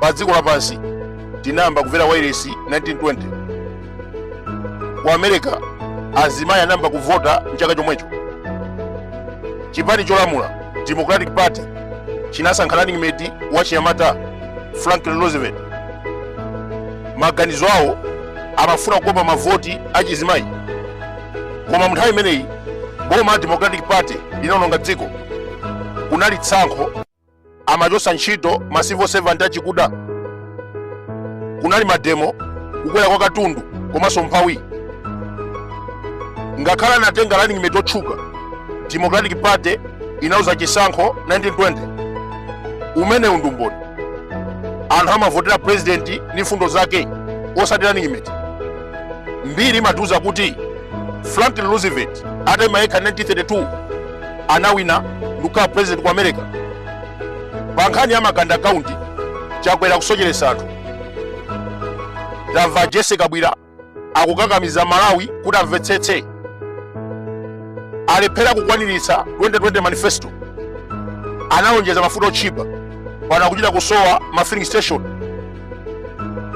pa dziko lapansi tinayamba kumvera wailesi 1920 ku america azimayi anayamba kuvota mchaka chomwecho chipani cholamula democratic party chinasankha running mate wa chinyamata franklin roosevelt maganizo awo amafuna kukopa mavoti achizimayi koma munthawi imeneyi boma la democratic party linaononga dziko kunali tsankho amachosa ntchito ma civil servant achikuda kunali mademo kukwera kwa katundu komanso umphawi ngakhale anatenga running mate otchuka democratic party inaluza chisankho 1920 umenewu ndi umboni anthu amavotera president ndi mfundo zake osati running mate mbiri imatiuza kuti franklin roosevelt ataima yekha 1932 anawina ndikukhala president ku america pa nkhani ya maganda kaunti chakwera kusocheresa anthu tamva jese kabwira akukakamiza amalawi kuti amvetsetse alephera kukwaniritsa 2020 manifesto analonjeza mafuta otchipa pano akuchita kusowa ma filling station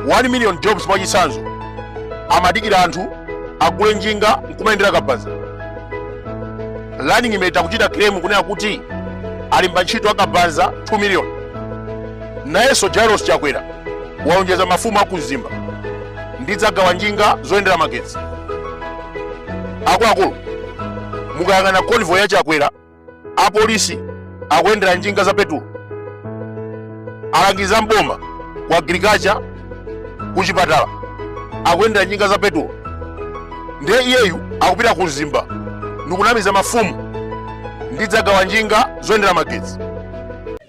1 million jobs mwachitsanzo amadikira anthu agule njinga nkumayendera kabaza running mate akuchita claim kunena kuti alemba ntchito akabaza 2 million nayenso jairos chakwera walonjeza mafumu akumzimba ndidzagawa njinga zoyendera magetsi akuluakulu mukayang'ana convoy ya chakwera apolisi akuyendera njinga za petulo alangizi mboma ku agriculture ku chipatala akuyendera njinga za petulo ndiye iyeyu akupita ku mzimba ndikunamiza mafumu ndidzagawa njinga zoyendera magetsi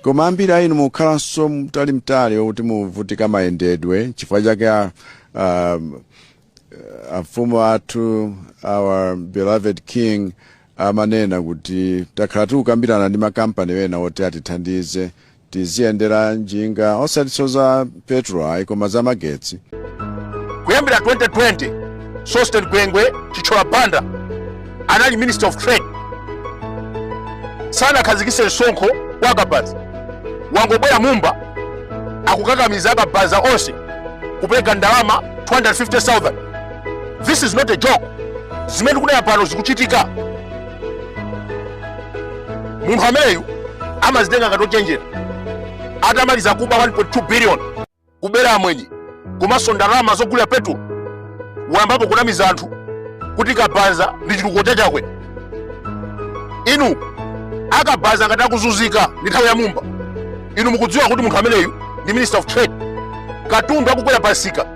koma ambiri a inu mukhalanso mtali mtali okuti muvutika mayendedwe chifukwa chake a- um, amfumu athu our beloved king amanena kuti takhala tikukambirana ndi makampani ena oti atithandize tiziyendera njinga osatinso za petrol ayi koma za magetsi kuyambira 2020 sosten gwengwe chitchola banda anali minister of trade sanakhazikise msonkho kwa akabaza wangobwera mumba akukakamiza akabaza onse kupereka ndalama 25000 this is not a joke zimene tikunena pano zikuchitika munthu ameneyu amazitenga ngati ochenjera atamaliza kuba 1.2 billion kubera amwenye komanso ndalama zogulira petulo wayambapo kunamiza anthu kuti kabanza ndi chitukuko cha chakwera inu akabanza ngati akuzunzika ndi nthawi ya mumba inu mukudziwa kuti munthu ameneyu ndi minister of trade katundu akukwera pamsika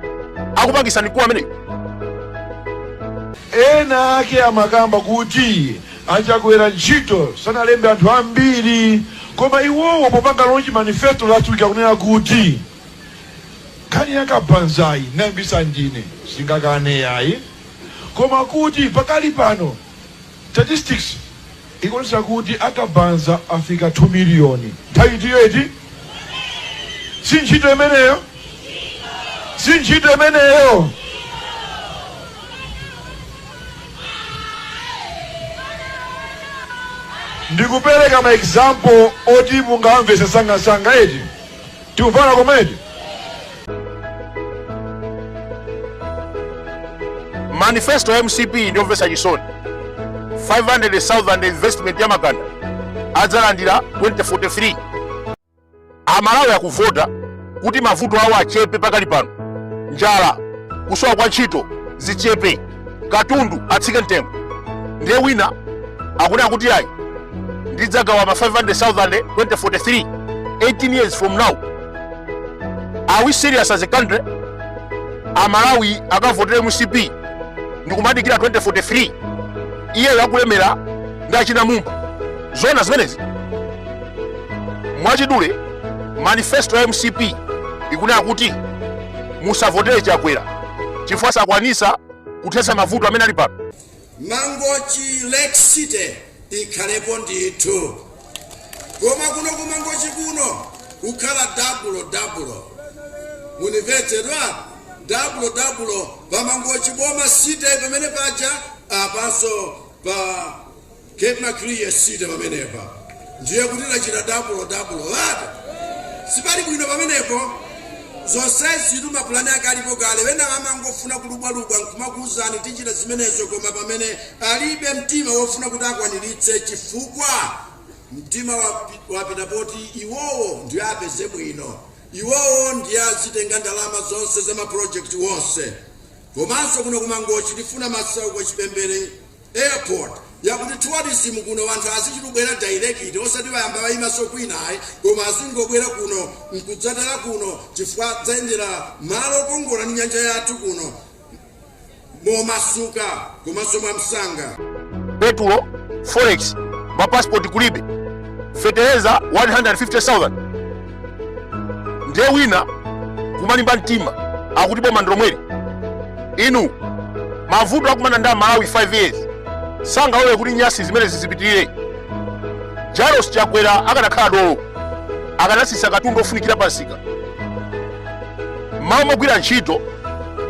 akupangisa mkulu ameneyu ena ake amakamba kuti achakwera ntchito sanalembe anthu ambiri koma iwowo popanga lonji manifesto last week akunena kuti nkhani yakabanzayi ndinayambisa ndine sindingakane yayi koma kuti pakali pano Statistics ikuonesa kuti akabanza afika 2 million nthawi itiyo eti si ntchito imeneyo si ntchito imeneyo ndikupereka ma example oti mungamvese msangamsanga eti tikumvana komedi manifesto ya mcp ndiyomvetsa chisoni 500,000 investment ya makanda adzalandira 2043 amalawi akuvota kuti mavuto awo achepe pakali pano njala kusowa kwa ntchito zichepe katundu atsike mtengo ndiye wina akunena kuti ayi ndidzagawa ma 500,000 2043 18 years from now are we serious as a country amalawi akavotera mcp ndikumadikira 2043 iyeyo akulemera ndi achina mumba zona zimenezi mwachidule manifesto ya mcp ikunena kuti musavotele chakwera chifukwa sakwanisa kuthetsa mavuto amene ali pano mangochi lake city ikhalepo ndithu koma kuno ku mangochi kuno kukhala dabulo dabulo mundimvetse bwa dabulo dabulo pa mangochi boma city pamene paja apanso pa ku lake city pamenepa ndiye kuti tachita double double lata sipali bwino pamenepo zonsezitu mapulani ake alipo kale ena amangofuna kulubwalubwa nkumakuuzani tichita zimenezo koma pamene alibe mtima wofuna kuti akwaniritse chifukwa mtima wapi- wapita poti iwowo ndiye apeze bwino iwowo ndiye azitenga ndalama zonse za mapulojekiti wonse komanso kuno kumangochi tifuna masauko chipembere Airport yakuti tourism kuno anthu azizabwera direct osati ayamba ayimanso kwina ayi koma azingobwera kuno nkudzatera kuno chifukwa adzayendera malo okongola ndi nyanja yathu kuno momasuka komanso mwamsanga. Petulo, forex, ma passport kulibe, feteleza 150,000. ndiye wina kumalimba mtima akuti boma ndilomweli inu mavuto akumana nawo amalawi 5 years sangalole kuti nyasi zimene zizipitirire Lazarus chakwera akanakhala dolo akanatsitsa katundu ofunikira pamsika mmalo mogwira ntchito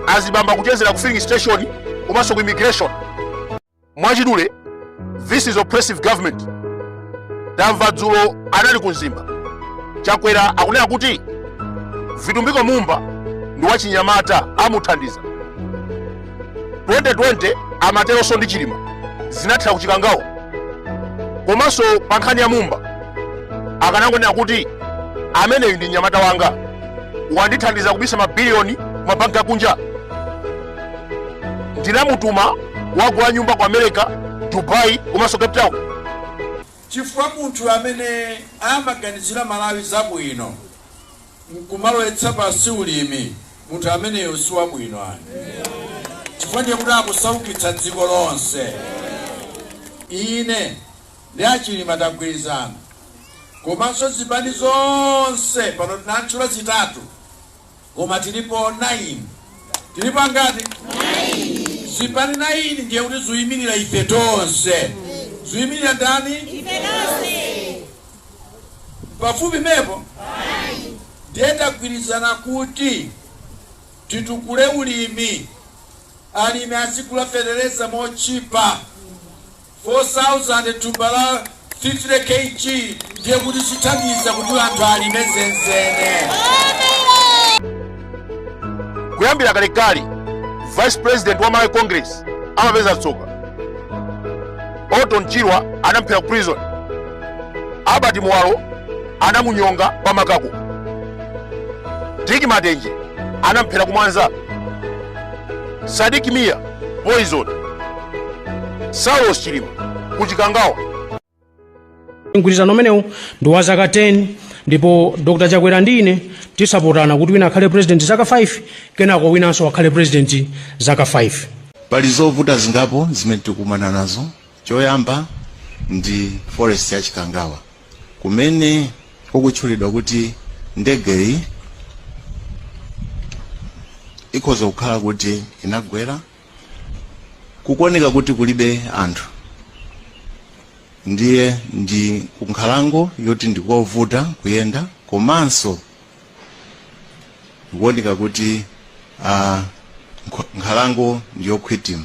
azibambo akuchezera ku filling station komanso ku immigration mwachidule this is oppressive government tamva dzulo anali ku Mzimba chakwera akunena kuti Vitumbiko Mumba ndi wachinyamata amuthandiza 2020 amateronso ndi Chilima zinathera ku Chikangawa komanso pa nkhani ya mumba akanangonena kuti ameneyu ndi mnyamata wanga wandithandiza kubisa mabiliyoni ku mabanki akunja ndinamutuma wagula nyumba ku america dubai komanso cape town chifukwa munthu amene amaganizira malawi zabwino nkumalowetsa pansi ulimi munthu ameneyo si wabwino ayi chifukwa ndiye kuti akusaukitsa dziko lonse ine ndi achilima tagwirizana komanso zipani zonse pano tinatchula zitatu Koma tilipo naini. Tilipo angati? Naini. Zipani naini ndiye kuti ziimirira ife tonse. Ziimirira ndani? Ife tonse. Pafupi mepo? Naini. Ndiye tagwirizana kuti titukule ulimi. Alimi azigula fetereza motchipa. 4000 thumba la 50 KG ndiye kuti zithandiza kuti anthu alime zenizeni. Kuyambira kalekale, Vice President wa Malawi Congress amapeza tsoka. Orton Chirwa anamuphera ku prison. Albert Muwalo anamunyonga pa makako. Dick Matenje anamphera ku Mwanza. Sadik Mia poison saulos chilima ku Chikangawa mgwirizano umenewu ndi wa zaka 10 ndipo dr chakwera ndi ine tizapotana kuti wina akhale president zaka 5 kenako winanso akhale president zaka 5 pali zovuta zingapo zimene tikumana nazo Choyamba ndi forest ya Chikangawa kumene kukutchulidwa kuti ndegeyi ikhoza kukhala kuti inagwera kukuoneka kuti kulibe anthu ndiye ndi kunkhalango yoti ndikovuta kuyenda komanso kukuoneka kuti ah, nkho- nkhalango ndiyokhwitima